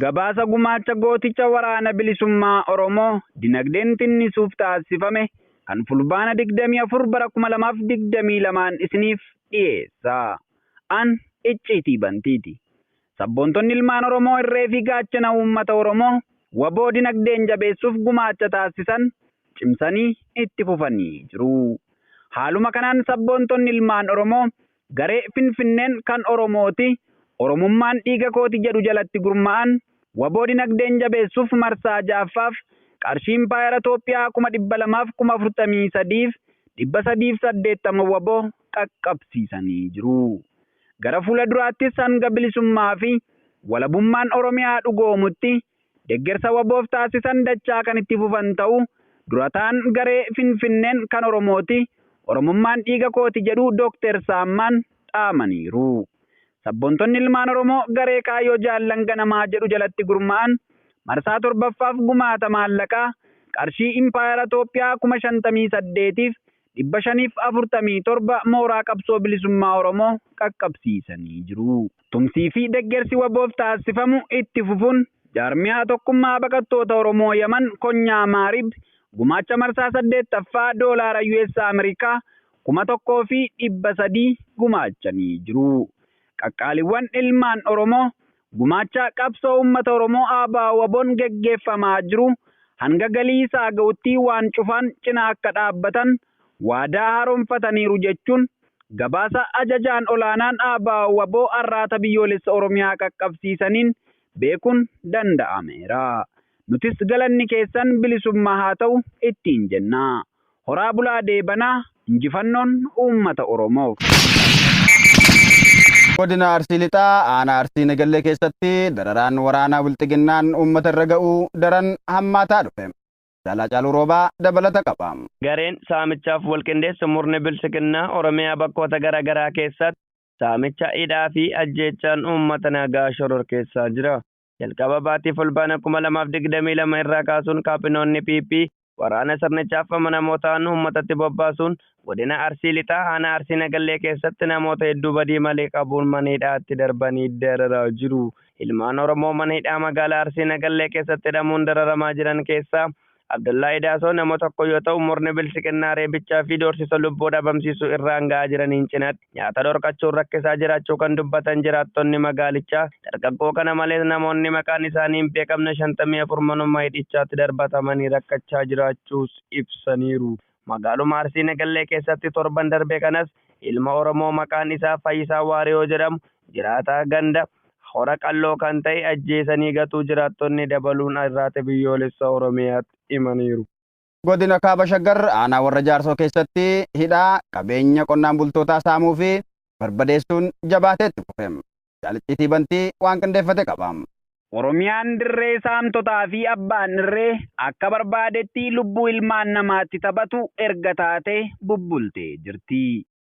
Gabaasa gumaacha gooticha waraana bilisummaa Oromoo dinagdeen tinnisuuf taassifame kan Fulbaana 24 bara 2022n isiniif dhiyeessa. An Icciitii Bantiiti. Sabboontonni ilmaan Oromoo irree fi gaachana uummata Oromoo wbo dinagdeen jabeessuuf gumaacha taassisan cimsanii itti fufanii jiru. Haaluma kanaan sabboontonni ilmaan Oromoo garee Finfinneen kan Oromooti, Oromummaan dhiiga kooti jedhu jalatti gurma'an wbo dinagdeen jabeessuuf marsaa 6ffaaf qarshii impaayera Toophiyaa 200,000f 43,380 wbo qaqqabsiisanii jiru. Gara fuula duraattis hanga bilisummaa fi walabummaan Oromiyaa dhugoomutti deggersa waboof taasisan dachaa kan itti fufan ta'uu Dura ta'an garee Finfinneen kan Oromooti, Oromummaan dhiiga kooti jedhu Dookter Saammaan dhaamaniiru. Sabboontonni ilmaan Oromoo garee Kaayyoo Jaallan Ganamaa jedhu jalatti gurma'an marsaa 7ffaaf gumaata maallaqaa qarshii Impaayera Toophiyaa 58,000f 547 mooraa qabsoo bilisummaa Oromoo qaqqabsiisanii jiru. Tumsii fi deggersi wbof taassifamu itti fufuun Jaarmiyaa Tokkummaa Baqattoota Oromoo Yaman Konyaa Maarib gumaacha marsaa 8ffaa Doolaara US Amerikaa 1300 gumaachanii jiru. Qaqqaaliwwan ilmaan Oromoo Gumaacha qabsoo uummata Oromoo ABO-WBOn geggeeffamaa jiru hanga galii isaa ga'utti waan cufaan cina akka dhaabbatan waadaa haaromfataniiru jechuun gabaasa Ajajaan Olaanaan ABO-WBO Arraata Biyyoolessa Oromiyaa qaqqabsiisaniin beekuun danda'ameera. Nutis galanni keessan bilisummaa haa ta'u ittiin jenna. Horaa bulaa deebanaa injifannoon uummata oromoof. Godina Arsii Lixaa aanaa Arsii Negellee keessatti dararaan waraanaa bilxiginnaan uummata irra ga'u daran hammaataa dhufe. Caalaa Caaluu Roobaa dabalata qaba. Gareen saamichaaf walqindeessu murni bilxiginnaa Oromiyaa bakkoota gara garaa keessatti saamicha, hidhaa fi ajjeechaan uummata nagaa shororkeessaa jira. jalqaba baatii Fulbaana 2022 irraa kaasuun kaabinoonni PP waraana sirnichaaf amanamoo ta'an uummatatti bobbaasuun godina Arsii Lixaa aanaa Arsii Nagallee keessatti namoota hedduu badii malee qabuun mana hidhaatti darbanii dararaa jiru. Ilmaan Oromoo mana hidhaa magaalaa Arsii Nagallee keessatti hidhamuun dararamaa jiran keessaa Abdallahi Daasoo nama tokko yoo ta'u murni bilxiginnaa reebichaa fi doorsisa lubbuu dhabamsiisuu irraan ga'aa jiraniin cinaatti nyaata dhorkachuun rakkisaa jiraachuu kan dubbatan jiraattonni magaalichaa dargaggoo kana malees namoonni maqaan isaanii hin beekamne 54 manuma hidhichaatti darbatamanii rakkachaa jiraachuus ibsaniiru. Magaaluma Arsii Nagallee keessatti torban darbe kanas ilma Oromoo maqaan isaa Fayyisaa Waariyoo jedhamu jiraataa ganda Hora Qalloo kan ta'e ajjeesanii gatuu jiraattonni dabaluun Irraate Biyyoolessa Oromiyaatti himaniiru. Godina Kaaba Shaggar aanaa Warra Jaarsoo keessatti hidhaa, qabeenya qonnaan bultootaa saamuu fi barbadeessuun jabaatee itti fufe. Jaal Icciitii Bantii waan qindeeffate qaba. Oromiyaan dirree saamtotaa fi abbaan irree akka barbaadetti lubbuu ilmaan namaatti taphatu erga taatee bubbultee jirti.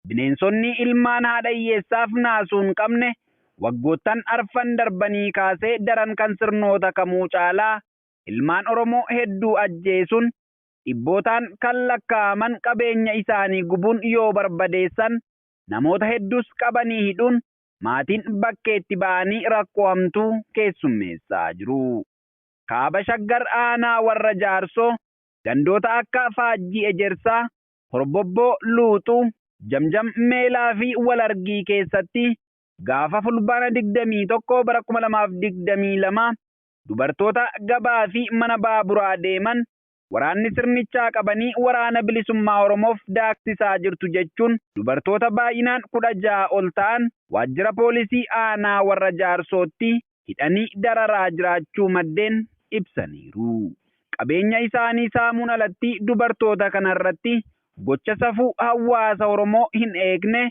Bineensonni ilmaan haadha hiyyeessaaf naasuu hin qabne waggoottan arfan darbanii kaasee daran kan sirnoota kamuu caalaa ilmaan Oromoo hedduu ajjeesuun, dhibbootaan kan lakkaa'aman qabeenya isaanii gubuun yoo barbadeessan, namoota hedduus qabanii hidhuun maatiin bakkeetti ba'anii rakkoo hamtuu keessummeessaa jiru. Kaaba Shaggar aanaa Warra Jaarsoo gandoota akka Faajjii Ejersaa, Horbobboo, Luuxuu, Jamjam, Meelaa fi Wal Argii keessatti gaafa Fulbaana 21 bara 2022 dubartoota gabaa fi mana baaburaa deeman waraanni sirnichaa qabanii Waraana Bilisummaa Oromoof daaksisaa jirtu jechuun dubartoota baay'inaan 16 ol ta'an waajjira poolisii aanaa Warra Jaarsootti hidhanii dararaa jiraachuu maddeen ibsaniiru. Qabeenya isaanii saamuun alatti dubartoota kanarratti gocha safuu hawaasa Oromoo hin eegne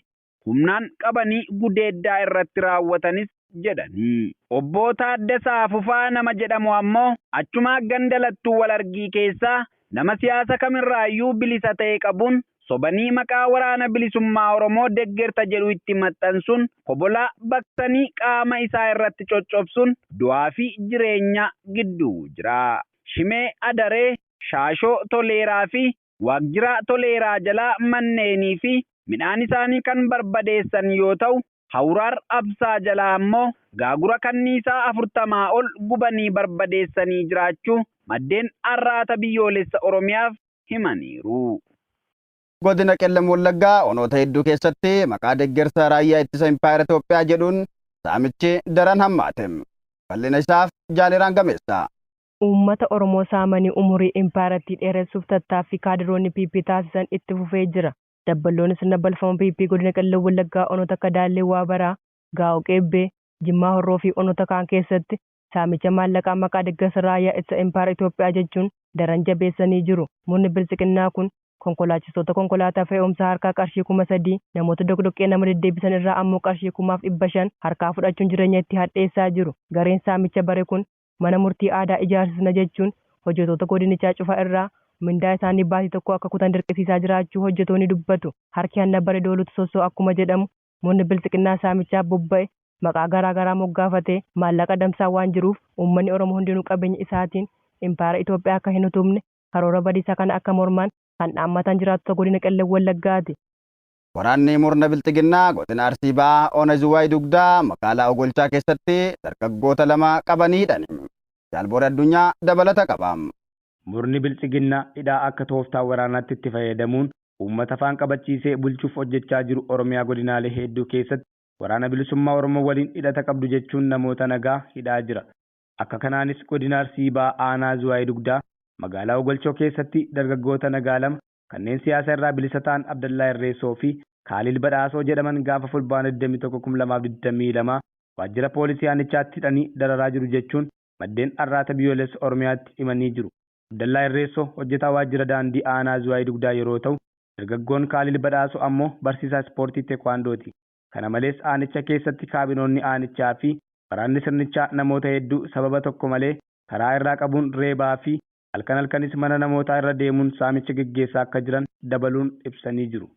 humnaan qabanii gudeeddaa irratti raawwatanis jedhani. Obboo Taaddasaa Fufaa nama jedhamu ammoo achuma ganda Lattuu Walargii keessaa nama siyaasa kamirraayyuu bilisa ta'e qabuun sobanii maqaa Waraana Bilisummaa Oromoo deggerta jedhu itti maxxansuun kobolaa baqsanii qaama isaa irratti coccobsuun du'aa fi jireenyaa gidduu jira. Shimee Adaree, Shaashoo Toleeraa fi Waaqjira Toleeraa jalaa manneenii fi midhaan isaanii kan barbadeessan yoo ta'u, Hawuraar Absaa jalaa ammoo gaagura kanniisaa 40 ol gubanii barbadeessanii jiraachuu maddeen Arraata Biyyoolessa Oromiyaaf himaniiru. Godina Qellem Wallaggaa onoota hedduu keessatti maqaa deggersa Raayyaa Ittisa Impaayera Itoophiyaa jedhuun saamichi daran hammaate. Bal'ina isaaf Jaaliraan Gameessaa. uummata Oromoo saamanii umurii impaayarattii dheeressuuf tattaaffii kaadiroonni PP taasisan itti fufee jira. Dabballoonni sirna balfama PP godina Qellem Wallaggaa onoota akka Daallee Waabaraa, Gaa'oo Qeebbee, Jimmaa Horroo fi onoota kaan keessatti saamicha maallaqaa maqaa deggersa raayyaa ittisa impaayara Itoophiyaa jechuun daran jabeessanii jiru. Murni bilxiginnaa kun konkolaachistoota konkolaataa fe'umsaa harkaa qarshii 3000, namoota doqdoqqee nama deddeebisan irraa ammoo qarshii 1500 harkaa fudhachuun jireenya itti hadheessaa jiru. Gareen saamicha bare kun mana murtii aadaa ijaarsisna jechuun hojjetoota godinichaa cufa irraa mindaa isaanii baatii tokkoo akka kutan dirqisiisaa jiraachuu hojjetoonni dubbatu. Harki hanna bare doolutu sossoo akkuma jedhamu murni biltsiginnaa saamichaaf bobba'e maqaa garaa garaa moggaafatee maallaqa adamsaa waan jiruuf uummanni Oromoo hundinuu qabeenya isaatiin impaayera Itoophiyaa akka hin utubne karoora badiisaa kana akka mormaan kan dhaammatan jiraattota godina Qellem Wallaggaati. Waraanni murna Bilxiginnaa godina Arsii Bahaa Ona Zuwaay Dugdaa magaalaa Ogolchaa keessatti dargaggoota lama qabanii hidhan. Jaal Booree Addunyaa dabalata qaba. Murni Bilxiginnaa hidhaa akka tooftaa waraanaatti itti fayyadamuun uummata afaan qabachiisee bulchuuf hojjechaa jiru Oromiyaa godinaalee heedduu keessatti Waraana Bilisummaa Oromoo waliin hidhata qabdu jechuun namoota nagaa hidhaa jira. Akka kanaanis godina Arsii Bahaa aanaa Zuwaay Dugdaa magaalaa Ogolchoo keessatti dargaggoota nagaa lama kanneen siyaasa irraa bilisa ta'an Abdallaa Irreessoo fi Kaaliil Badhaasoo jedhaman gaafa Fulbaana 21, 2022 waajjira poolisii aanichaatti hidhanii dararaa jiru jechuun maddeen Arraata Biyyoolessa Oromiyaatti himanii jiru. Abdallaa Irreessoo hojjetaa waajjira daandii aanaa Zuwaay Dugdaa yeroo ta'u, dargaggoon Kaaliil Badhaasoo ammoo barsiisaa ispoortii Tekwaandooti. Kana malees aanicha keessatti kaabinoonni aanichaa fi waraanni sirnichaa namoota hedduu sababa tokko malee karaa irraa qabuun reebaa fi halkan halkanis mana namootaa irra deemuun saamicha geggeessaa akka jiran dabaluun ibsanii jiru.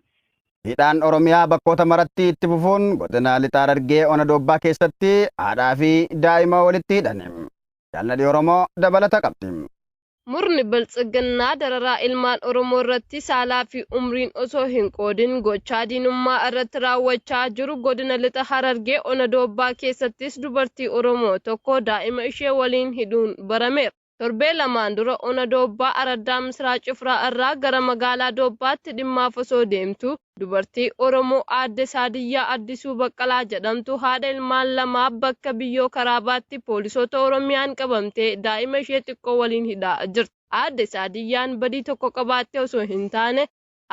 Hidhaan Oromiyaa bakkoota maratti itti fufuun godina Lixa Harargee Ona Doobbaa keessatti haadhaa fi daa'ima walitti hidhani. Jaal Nadhii Oromoo dabalata qabdi. Murni Biltsiginnaa dararaa ilmaan Oromoo irratti saalaa fi umriin osoo hin qoodin gochaa diinummaa irratti raawwachaa jiru godina Lixa Harargee Ona Doobbaa keessattis dubartii Oromoo tokko daa'ima ishee waliin hidhuun barameera. Torbee lamaan dura ona Doobbaa araddaa Misraa Cifraa irraa gara magaalaa Doobbaatti dhimmaaf osoo deemtuu dubartii Oromoo aadde Saadiyyaa Addisuu Baqqalaa jedhamtu haadha ilmaan lamaa bakka Biyyoo Karaabaatti poolisoota Oromiyaan qabamtee daa'ima ishee xiqqoo waliin hidhaa jirti. Aadde Saadiyyaan badii tokko qabaattee osoo hin taane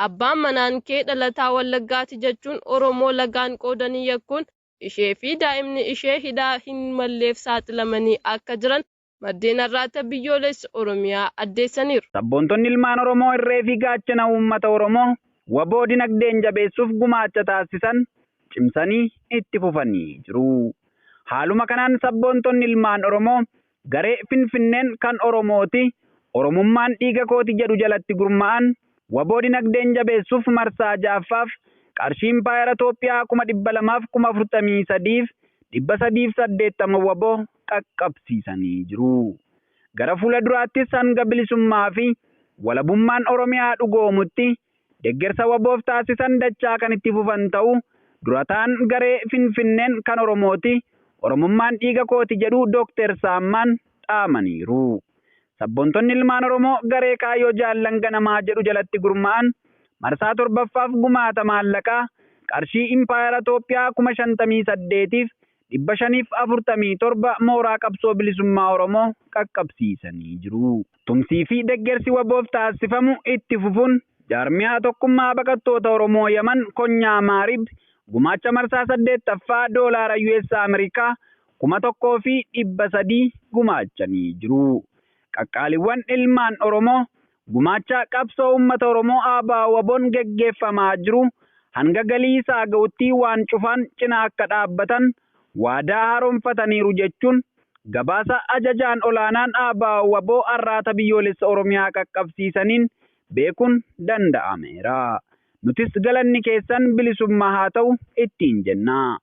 abbaan manaan kee dhalataa Wallaggaati jechuun Oromoo lagaan qoodanii yakkuun ishee fi daa'imni ishee hidhaa hin malleef saaxilamanii akka jiran maddeen Arraata Biyyoolessa Oromiyaa addeessaniiru. Sabboontonni ilmaan Oromoo irree fi gaachana uummata Oromoo wbo dinagdeen jabeessuuf gumaacha taassisan cimsanii itti fufanii jiru. Haaluma kanaan sabboontonni ilmaan Oromoo garee Finfinneen kan Oromooti, Oromummaan dhiiga kooti jedhu jalatti gurma'an wbo dinagdeen jabeessuuf marsaa 6ffaaf qarshii impaayera Toophiyaa 200,000f 43,380 wbo qaqqabsiisanii jiru. Gara fuula duraattis hanga bilisummaa fi walabummaan Oromiyaa dhugoomutti deggersa wbo-f taasisan dachaa kan itti fufan ta'uu durataan garee Finfinneen kan Oromooti, Oromummaan dhiiga kooti jedhu Dr. Saammaan dhaamaniiru. Sabboontonni ilmaan Oromoo garee Kaayyoo Jaallan Ganamaa jedhu jalatti gurma'an marsaa 7ffaaf gumaata maallaqaa qarshii Impaayera Toophiyaa 58,000f 547 mooraa qabsoo bilisummaa Oromoo qaqqabsiisanii jiru. Tumsii fi deggersi waboof taassifamu itti fufuun Jaarmiyaa Tokkummaa Baqattoota Oromoo Yaman Konyaa Maarib gumaacha marsaa 8ffaa Doolaara US Amerikaa 1300 gumaachanii jiru. Qaqqaaliwwan ilmaan Oromoo Gumaacha qabsoo uummata Oromoo ABO-WBOn geggeeffamaa jiru hanga galii isaa ga'utti waan cufaan cina akka dhaabbatan waadaa haaromfataniiru jechuun gabaasa Ajajaan Olaanaan ABO-WBO Arraata Biyyoolessa Oromiyaa qaqqabsiisaniin beekuun danda'ameera. Nutis galanni keessan bilisummaa haa ta'u ittiin jenna.